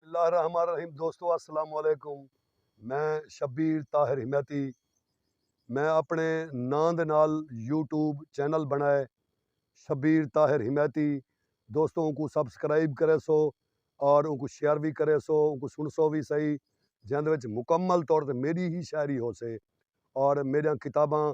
اللہ الرحمن الرحیم دوستو السلام علیکم میں شبیر طاہر حمیتی میں اپنے ناں دے نال یوٹیوب چینل بنائے شبیر طاہر حمیتی دوستو ان کو سبسکرائب کرے سو اور ان کو شیئر بھی کرے سو ان کو سن سو بھی صحیح جہاں دے وچ مکمل طور تے میری ہی شاعری ہو سے اور میریاں کتاباں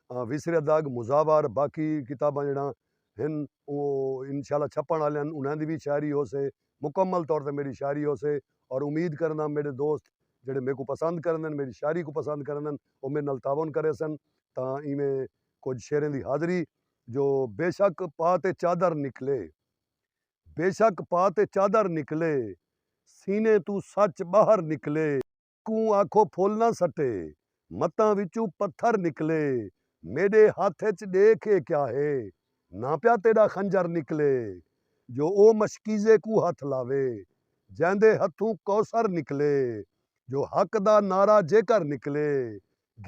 وسر اداگ مزاوار باقی کتاباں جڑاں ہن انشاءاللہ چھپن والے انہاں دی بھی شاعری ہو سے مکمل طور تے میڈی شاعری ہوسے اور امید کرینداں میڈے دوست جیڑھے میکوں پسند کریندن میڈی شاعری کوں پسند کریندن او میڈے نال تعاون کریسن تاں ایویں کجھ شعریں دی حاضری جو بیشک پا تے چادر نکلے بیشک پا تے چادر نکلے سینے توں سچ باہر نکلے۔ کوں آکھو پھل نہ سٹے، متاں وچوں پتھر نکلے، میݙے ہتھ اچ ݙیکھ ایہ کیا ہے، نہ پیا تیݙا خنجر نکلے، جو او مشکیزے کوں ہتھ لاوے، جیندے ہتھوں کوثر نکلے، جو حق دا نعرہ جیکر نکلے،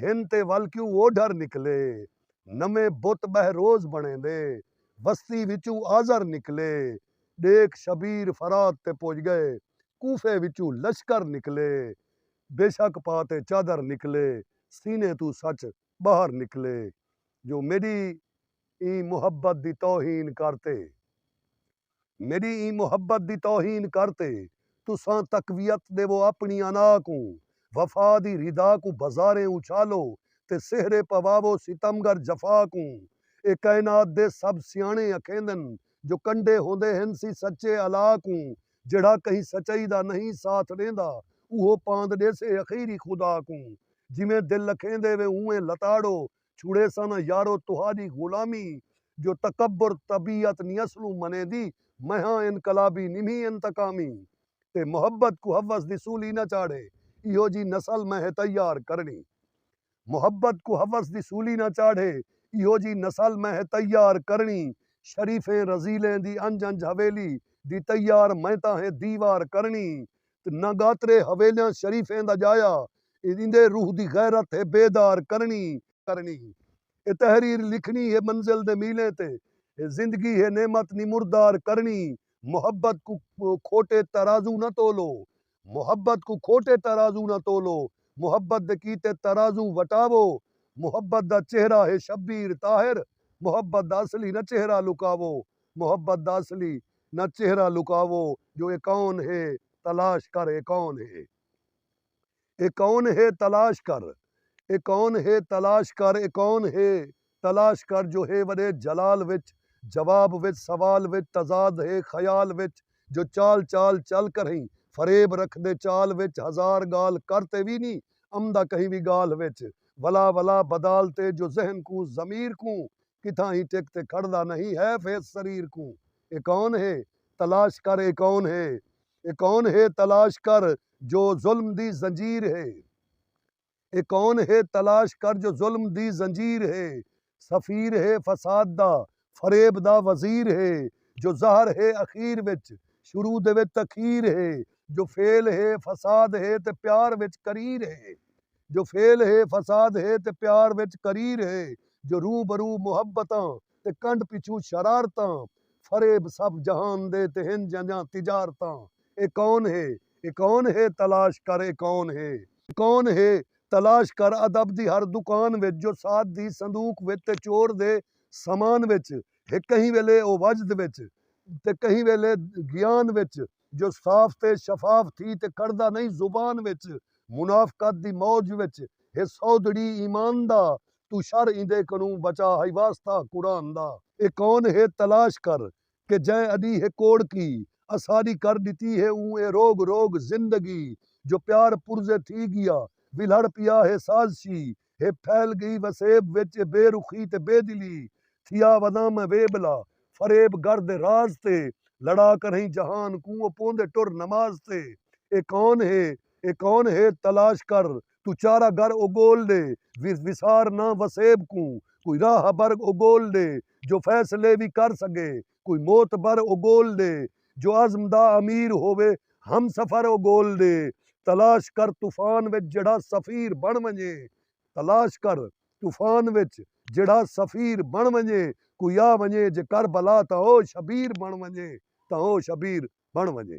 گھن تے ول کیوں اوڈھر نکلے نویں بت بہروز بݨیندے وستی وچوں آزر نکلے ݙیکھ شبیر فرات تے پڄ ڳئے کوفے وچوں لشکر نکلے بیشک پا تے چادر نکلے سینے توں سچ ٻاہر نکلے جو میݙی ایں محبت دی توہین کر تے میݙی ایں محبت دی توہین کر تے تساں تقویت ݙیوو اپݨی انا کوں وفا دی ردا کوں بازاریں اچھالو تے سہرے پواوو ستم گر جفا کوں اے کائنات دے سب سیاݨے اکھیندن جو کنڈے ہوندے ہن سی سچے الا کوں جیڑھا کہیں سچائی دا نئیں ساتھ ݙیندا اوہو پاند ݙیسے اخیری خدا کوں جیویں دل اکھیندے وے اونویں لتاڑو چھوڑیساں نہ یارو تہاڈی غلامی ای جو تکبر طبیعت نی اصلوں منیندی میہاں انقلابی نی مھی انتقامی تے محبت کوں حوس دی سولی نہ چاڑھے ایہو جی نسل میہے تیار کرنی محبت کوں حوس دی سولی نہ چاڑھے ایہو جی نسل میہے تیار کرنی شریفیں رزیلیں دی انج انج حویلی دی تیار میتاں ہے دیوار کرنی تے نہ گاترے حویلیاں شریفیں دا جایا اے ایندے روح دی غیرت ہے بیدار کرنی کرنی ہے اے تحریر لکھنی ہے منزل دے میلیں تے اے زندگی ہے نعمت نمردار کرنی محبت کوں کھوٹے ترازو نہ تولو محبت کوں کھوٹے ترازو نہ تولو محبت دے کیتے ترازو وٹاوو محبت دا چہرہ ہے شبیر طاہر محبت دا اصلی نہ چہرہ لکاوو محبت دا اصلی نہ چہرہ لکاوو جو اے کون ہے تلاش کر اے کون ہے اے کون ہے تلاش کر اے کون ہے تلاش کر اے کون ہے تلاش کر جو ہے وݙے جلال وچ جواب وچ سوال وچ تضاد ہے خیال وچ جو چال چال چل کرہیں فریب رکھدے چال وچ ہزار ڳالھ کر تے وی نی امدا کہیں وی ڳالھ وچ ولا ولا بدال تے جو ذہن کوں ضمیر کوں کتھاں ہی ٹک تے کھڑدا نہیں حیف ہے اس سریر کوں اے کون ہے تلاش کر اے کون ہے اے کون ہے تلاش کر جو ظلم دی زنجیر ہے اے کون ہے تلاش کر جو ظلم دی زنجیر ہے سفیر ہے فساد دا فریب دا وزیر ہے جو زہر ہے اخیر وچ شروع دے وچ تخیر ہے جو فعل ہے فساد ہے تے پیار وچ قریر ہے۔ جو فعل ہے فساد ہے تے پیار وچ کریر ہے جو روح برو محبتاں تے کنڈ پچھوں شرارتاں فریب سب جہان دے تے ہن جنجاں تجارتاں اے کون ہے اے کون ہے تلاش کر اے کون ہے اے کون ہے تلاش کر ادب دی ہر دکان وچ جو سعد دی صندوق وچ تے چور دے سامان وچ ہے کہیں ویلے او وجد وچ تے کہیں ویلے گیان وچ۔ جو صاف تے شفاف تھی تے کڑدا نئیں زبان وچ منافقت دی موج وچ ہے سودھڑی ایمان دا توں شر ایندے کنوں بچا ہئی واسطہ قرآن دا۔ اے کون ہے تلاش کر کہ جئیں اڈی ہے کوڑکی اساڈی کر ڈتی ہے اوں اے روگ روگ زندگی جو پیار پرزے تھی گیا ولہڑ پیا ہے سازشی ہے پھیل گئی وسیب وچ اے بے رخی تے بے دلی تھیا وزاں میں وے بلا فریب گر دے راز تے لڑا کرہیں جہان کوں او پوندے ٹر نماز تے اے کون ہے اے کون ہے تلاش کر توں چارہ گر او گول ڈے وس وسار نہ وسیب کوں کوئی راہ بر او گول ڈے جو فیصلے وی کر سگے کوئی معتبر و گول دے جو عزم دا امیر ہووے ہم سفر و گول دے تلاش کر طوفان وچ جیڑھا سفیر بݨ ونڄے تلاش کر طوفان وچ جیڑھا سفیر بݨ ونڄے کوئی آ ونڄے جے کربلا تاں او شبیر بݨ ونڄے تاں او شبیر بݨ ونڄے۔